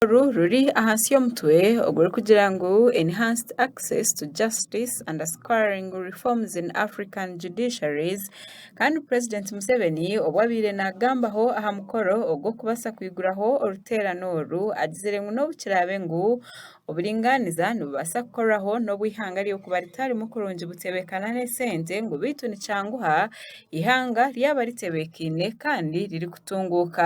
oru ruri ahansi y'omutwe ogurikugira ngu Enhanced Access to Justice and Assuring Reforms in African Judiciaries kandi Purezidenti Museveni obu abaire naagambaho aha mukoro ogw'okubaasa kwiguraho oruteerane oru agizire ngu n'obu kiraabe ngu oburingaaniza nibubaasa kukorwaho n'obu eihanga ry'okuba ritarimu kurungi butebeekana n'esente ngu beitu nikyanguha eihanga ryaba ritebeekaine kandi ririkutunguuka.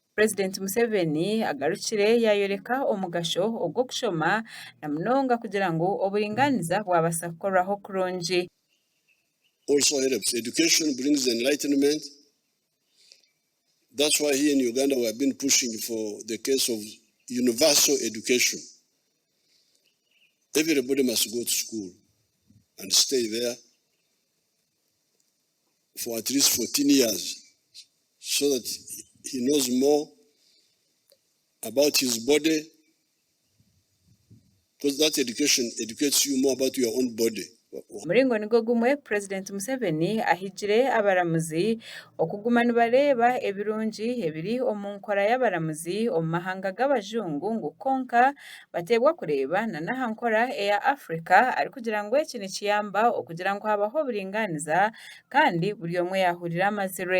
Purezidenti Museveni agarukire yaayoreka omugasho ogw'okushoma na munonga kugira ngu oburingaaniza bwabaasa kukorwaho kurungi. also helps, education brings enlightenment that's why here in Uganda we have been pushing for the case of universal education everybody must go to school and stay there. for at least 14 years so that he knows more about his body because that education educates you more about your own body. Omuringo nigwo gumwe Purezidenti Museveni ahigire abaramuzi okuguma nibareeba ebirungi ebiri omu nkora y'abaramuzi omu mahanga g'abajungu ngu kwonka bateebwa kureeba na n'aha nkora eya Africa arikugira ngu eki nikiyamba okugira ngu habaho oburingaaniza kandi buri omwe yaahurira amazirwe.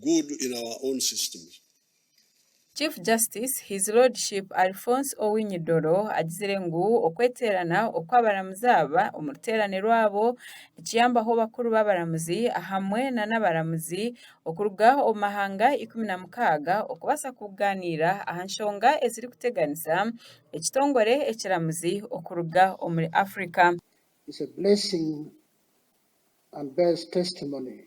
good in our own systems. Chief Justice His Lordship Alphonse Owiny Dollo agizire ngu okweteerana okw'abaramuzi aba omu ruteerane rwabo nikiyambaho bakuru b'abaramuzi ahamwe na n'abaramuzi okuruga omu mahanga ikumi na mukaaga okubaasa kugaaniira aha nshonga ezirikuteganisa ekitongore ekiramuzi okuruga omuri Africa. It's a blessing and bears testimony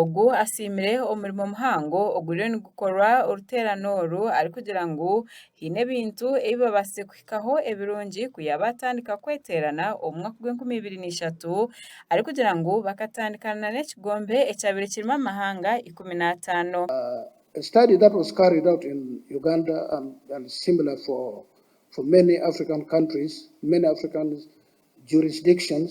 Ogu asiimire omurimo muhango oguriyo nigukorwa oruteerane oru arikugira ngu haine ebintu ebi babaasize kuhikaho ebirungi ku yaabaatandika kweteerana omu mwaka gw'enkumi ibiri na ishatu arikugira ngu bakatandikana na n'ekigombe ekyabaire kirimu amahanga ikumi n'ataano. A study that was carried out in Uganda and and similar for for many African countries, many African jurisdictions,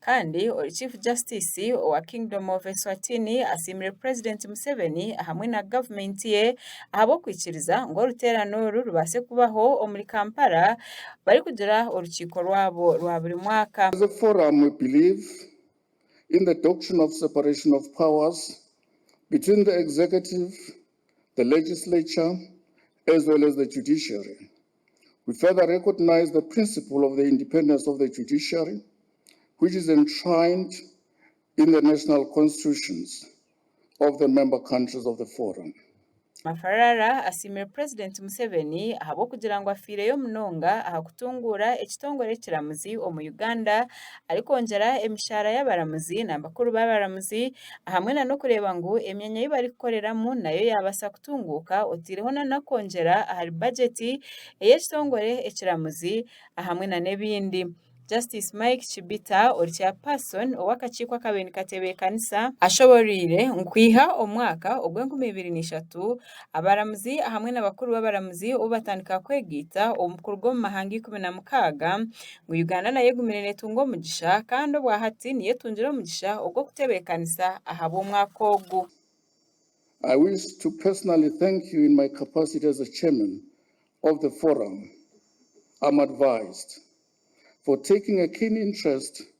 Kandi ori chief justice owa kingdom of Eswatini asiimire purezidenti Museveni ahamwe na gavumenti ye ahabw'okwikiriza ngu oruteerane oru rubaase kubaho omuri Kampala barikugira orukiiko rwabo rwa buri mwaka. As a forum we believe in the doctrine of separation of powers between the executive, the legislature as well as the judiciary. We further recognise the principle of the independence of the judiciary which is enshrined in the national constitutions of the member countries of the Forum. Mafarara asiimire Purezidenti Museveni ahabw'okugira ngu afiireyo munonga aha kutunguura ekitongore ekiramuzi omu Uganda arikwongyera emishaara y'abaramuzi nambakuru b'abaramuzi ahamwe na n'okureeba ngu emyanya ei barikukoreramu nayo yaabaasa kutunguuka otaireho na n'okwongyera ahari bagyeti ey'ekitongore ekiramuzi ahamwe na n'ebindi. Justice Mike Chibita ori Chairperson ow'akakiiko akabaire nikatebeekanisa, ashoboreire ngu kwiha omwaka ogw'enkumi ibiri na ishatu Abaramuzi ahamwe na bakuru b'abaramuzi obu batandika kwegaita kuruga omu mahanga ikumi na mukaaga ngu Uganda nayo egumire netunga omugisha kandi obwa hati niyo etungire omugisha ogw'okutebekanisa ahabw'omwaka ogu. I wish to personally thank you in my capacity as the chairman of the forum am advised for taking a keen interest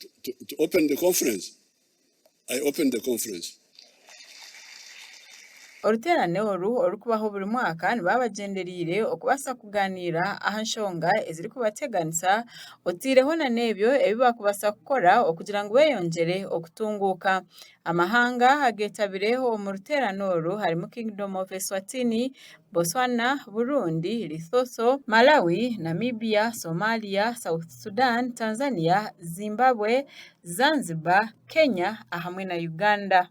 to, to, to open the conference. I opened the conference. Oruteerane oru orurikubaho buri mwaka nibaba bagyendereire okubaasa kugaaniira aha nshonga ezirikubateganisa otaireho na n'ebyo ebi baakubaasa kukora okugira ngu beeyongyere okutunguuka. Amahanga ageetabire omu ruteerane oru harimu Kingdom of Eswatini, Botswana, Burundi, Lesotho, Malawi, Namibia, Somalia, South Sudan, Tanzania, Zimbabwe, Zanzibar, Kenya ahamwe na Uganda.